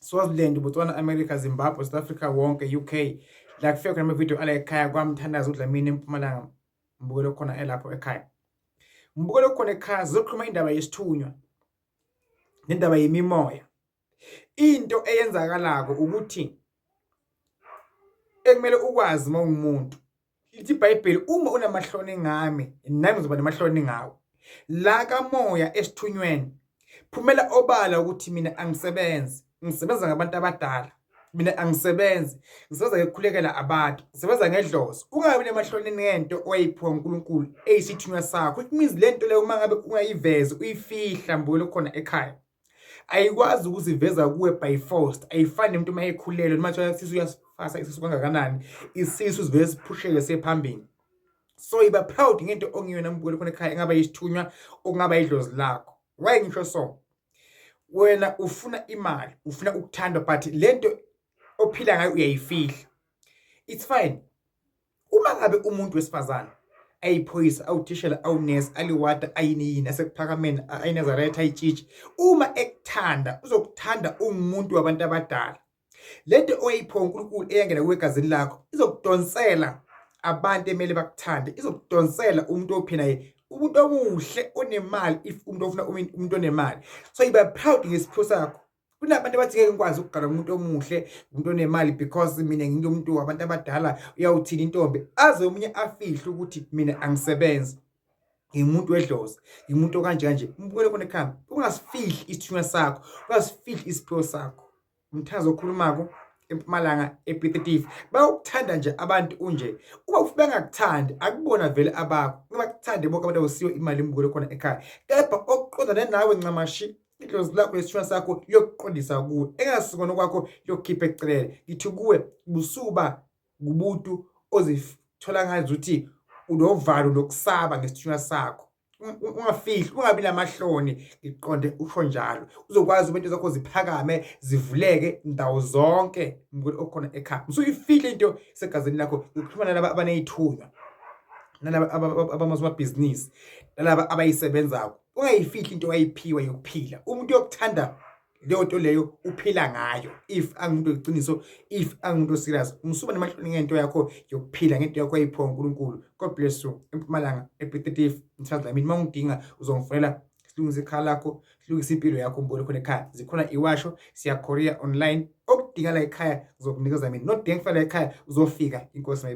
Swaziland, Botswana, America, Zimbabwe, South Africa wonke, UK la kufika khona amavidiyo ala ekhaya kwamthandaza uDlamini empumalanga mbukelo khona elapho ekhaya mbukelo khona ekhaya zizokhuluma indaba yesithunywa nendaba yemimoya into eyenzakalako ukuthi ekumele ukwazi uma ungumuntu Ithi iBhayibheli uma unamahloni ngami nami ngizoba namahloni ngawe. La kamoya esithunyweni phumela obala ukuthi mina angisebenzi, ngisebenza ngabantu abadala. Mina angisebenzi, ngisebenza ngekukhulekela abantu, ngisebenza ngedlozi. Ungabi namahloni ngento owayiphiwa uNkulunkulu eyisithunywa sakho. It means le nto leyo uma ngabe ungayivezi uyifihla mbukelo khona ekhaya. ayikwazi ukuziveza kuwe by force ayifani nemuntu uma ekhulelwe noma kuthiwa isisu uyasifasa isisu kangakanani isisu sivele siphusheke sephambili so iba proud ngento ongiyona mbukeli khona ekhaya engaba yisithunywa okungaba idlozi lakho why ngisho so wena ufuna imali ufuna ukuthandwa but lento ophila ngayo uyayifihla it's fine uma ngabe umuntu wesifazane ayiphoyisa awuthishela awunesi aliwada ayiniyini asekuphakameni ayinazaretha ayitshitshi uma ekuthanda uzokuthanda ungumuntu wabantu abadala lento oyipho uNkulunkulu eyangena kwegazini lakho izokudonsela abantu emele bakuthande izokudonsela umuntu ophina yena umuntu omuhle onemali if umuntu ofuna umuntu onemali so yiba proud ngesipho sakho kunabantu abathi ngeke ngikwazi ukugala umuntu omuhle umuntu onemali because mina nginto umuntu wabantu abadala uyawuthini intombi aze omunye afihle ukuthi mina angisebenzi ngimuntu wedlozi ngimuntu okanje kanje umbukele kona ekhamba ungasifihli isithunywa sakho ungasifihli isiphiwo sakho umthazi okhulumako empumalanga epetitive bayokuthanda nje abantu unje uma bengakuthandi akubona vele abakho uma kuthande bonke abantu awusiyo imali imbukelo khona ekhaya kepha okuqondane nawe ncamashi idlozi lakho nesithunywa sakho liyokuqondisa kuwe engasikona kwakho liyokukhipha ecelele ngithi kuwe busuba ngumuntu ozithola ngazi ukuthi unovalo lokusaba ngesithunywa sakho ungafihli ungabi namahloni ngiqonde usho njalo uzokwazi umuntu zakho ziphakame zivuleke ndawo zonke mngweni okhona ekhaya usuyifihle into segazini lakho ukuxhumana laba abanezithunywa nalaba abamazimabhizinisi nalaba abayisebenzako ungayifihli into wayiphiwa yokuphila umuntu yokuthanda leyo nto leyo uphila ngayo if angumuntu weqiniso if angumuntu oserious umsuba nemahloni ngento yakho yokuphila ngento yakho ayiphiwa uNkulunkulu God bless you empumalanga epetitive ngithanda mina uma ungidinga uzongifonela silungise ikhala lakho silungise impilo yakho umbone khona ekhaya zikhona iwasho siyakorea online okudingala ekhaya ngizokunikeza mina nodengifela ekhaya uzofika inkosi